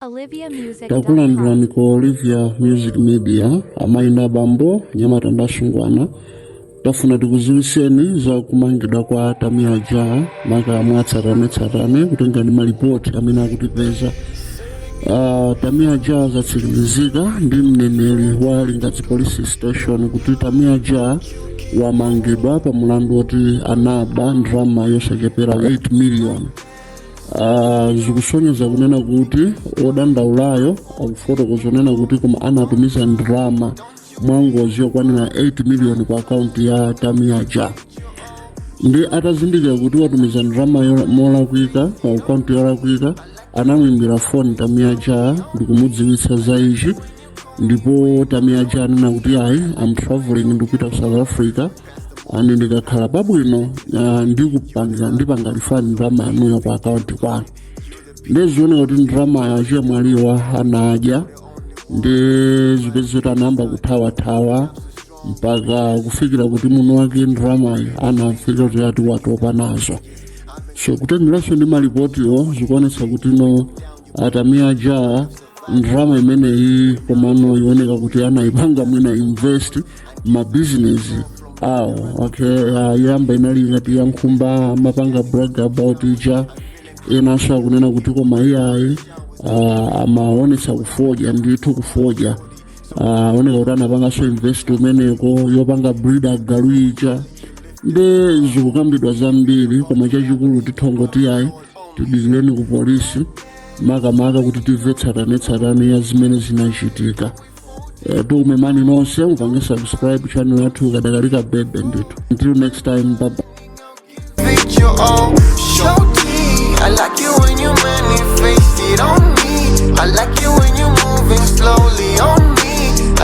Olivia Music. takulandirani ku olivia music media amayi na bambo anyamata ndi asungwana tafuna tikuziwiseni za kumangidwa kwa tamiya ja maka mwatsatanetsatane kutengera ndi malipoti amene akutipeza Ah, tamiya ja zatsimikizika ndi mneneri wa Lingadzi Police Station kuti tamiya ja wamangidwa pa mulandu woti anaba ndalama yosachepera 8 miliyoni Ah, zikusonyeza kunena kuti odandaulayo akufotokoza kunena kuti koma anatumiza ndalama mwangozi yokwanira 8 miliyoni ku akaunti ya tamiaja nde atazindikira kuti watumiza ndalama yo- molakwika pa akaunti yolakwika anamwimbira foni tamiaja ndikumudziwitsa za ichi ndipo tamiaja anena kuti ayi am traveling ndikupita ku south africa ane ndikakhala pabwino ah, ndikupanga ndipanga refund ndalama yanuyo pa akaunti kwanu ndizioneka kuti ndalama achemwaliwa anadya nde zikupezeka kuti anayamba kuthawathawa mpaka kufikira kuti mwini wake ndalamayo anafika poti ayi watopa nazo so kutengeranso ndi malipotiyo zikuonetsa kuti no atamia ja ndrama imeneyi komano zioneka kuti anaipanga mwina invest mabizinesi awo okay ayamba inali ngati ya nkhumba amapanga brag about ija enanso akunena kuti koma iyayi uh, amaonetsa kufodya ndithu kufodya zioneka kuti anapanganso invest kumeneko yopanga breed agalu ija nde zikukambidwa zambiri koma chachikulu titangoti ayi tidikireni ku polisi makamaka kuti timve tsatanetsatane ya zimene zinachitika Eh, tikumemeni nonse mupange subscribe channel yathu ikadali kabebe ndithu until next time bye bye Make your own show tea. I like it when you manifest it on me. I like it when you moving slowly on